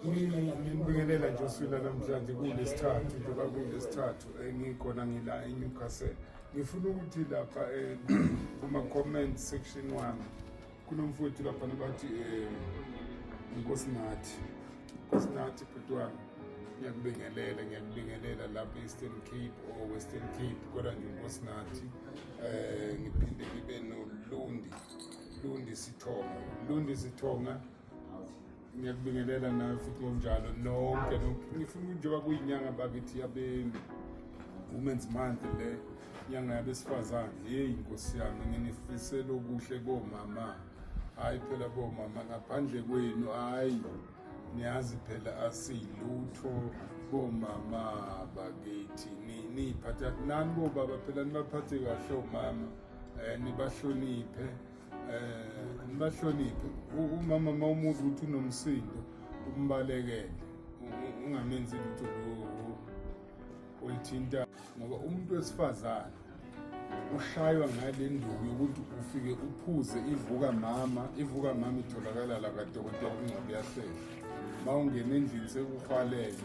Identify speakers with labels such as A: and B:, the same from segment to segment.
A: nginibingelela nje usula namhlanje kulesithathu njengoba kulesithathu engikhona ngila enewcastle ngifuna ukuthi lapha eh, kuma-comment section wami kunomfowethu lapha nabathi um eh, inkosi nathi inkosi nathi bhuti wami ngiyakubingelela ngiyakubingelela lapha e-eastern cape or western cape kodwa nje inkosi nathi um ngiphinde ngibe nolundi Lundi Sithonga. Lundi Sithonga. Ngiyakubingelela nawe futhi ngokunjalo nonke nonke. Ngifuna njengoba kuyinyanga bakithi yabe Women's Month le nyanga yabesifazane. Hey Nkosi yami nginifisela okuhle komama. Hayi phela bomama ngaphandle kwenu hayi niyazi phela asilutho bomama bakithi niphatha nani bobaba phela nibaphathe kahle omama eh, nibahloniphe um nibahloniphe umama uma umuzi ukuthi unomsindo umbalekele ungamenzi lutho olithinta ngoba umuntu wesifazane ushaywa ngale nduku yokuthi ufike uphuze ivuka mama ivuka mama itholakala la kadokotela ungcwabi yahlehla uma ungena endlini sekuhwalele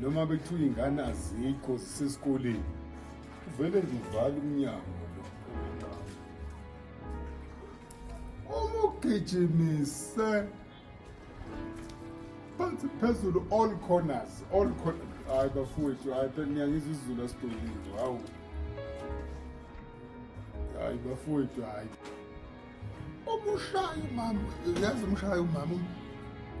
A: noma bekuthiwa iy'ngane azikho zisesikoleni uvele nje uvala umnyango uma ugijimise phansi phezulu all corners all corners hayi bafowethu hayi phela niyangizwa isizulu asidolile hawu hayi bafowethu hayi Umushaya umama, uyazi umshaya umama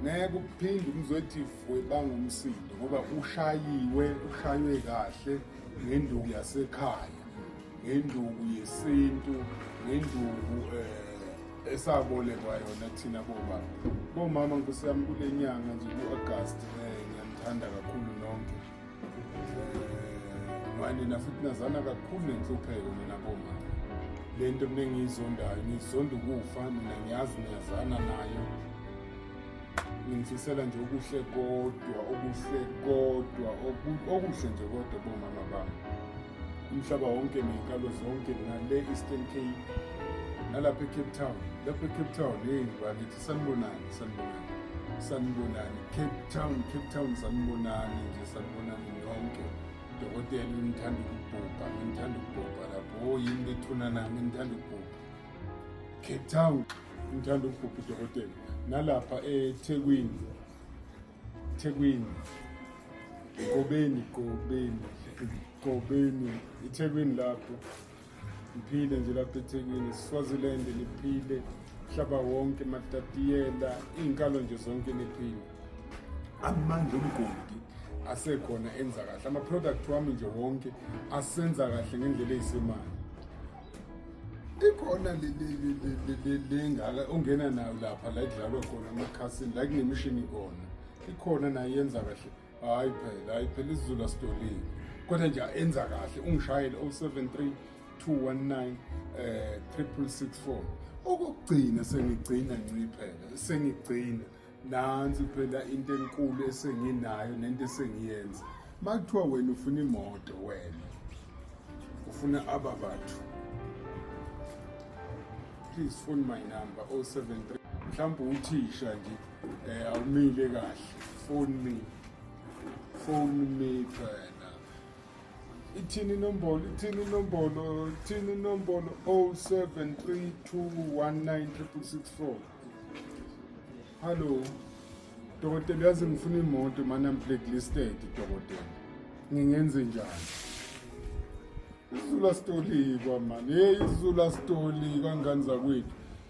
A: ngeke uphinde umzothi vwe bangumsindo ngoba ushayiwe ushaywe kahle ngenduku yasekhaya ngenduku yesintu ngenduku eh esabolekwa yona thina bobaba bomama nkosi yami kule nyanga nje ku-agasti um eh, ngiyanithanda kakhulu nonke nina futhi nazana kakhulu nenhlupheko nina bomama le nto mina engiyizondayo ngizonda ukufa nina ngiyazi niyazana nayo ngimfisela nje okuhle kodwa okuhle kodwa okuhle nje kodwa bomama bami umhlaba wonke ney'nkalo zonke nale eastern cape nalapha ecape town lapha ecape town yeyini bakithi sanibonani sanibonani sanibonani cape town cape town sanibonani nje sanibonani nonke dokotela ngithanda ukubhubha ngithanda ukubhubha lapho o oh, yini bethuna nami ngithanda ukubhubha cape town ngithanda ukubhubha udokotela nalapha ethekwini thekwini gobeni gobeni gobeni ithekwini lapho Niphile nje laphethekile Swaziland niphile hlaba wonke matatiyela iy'nkalo nje zonke niphile amandla omgodi asekhona enza kahle ama-product wami nje wonke asenza kahle ngendlela eyisemali ikhona lengaka ongena nayo lapha la idlalwa khona amakhasini la kunemishini khona ikhona nayo yenza kahle hayi phela hayi phela isizulu asitolile kodwa nje enza kahle ungishayele 073 219 eh 3664 okugcina sengigcina nciphela sengigcina nansi phela into enkulu esenginayo nento esengiyenza makuthiwa wena ufuna imoto wena ufuna aba bathu please phone my number 073 mhlawumbe uthisha nje Eh awumile kahle. Phone me. Phone me phela. Ithini inombolo, ithini inombolo, ithini inombolo 0732196664. Hello. Dokotela uyazi ngifuna imoto manje I'm blacklisted dokotela. Ngingenze njani? Izulu asitolika mani. Hey izulu asitolika ngani zakwethu.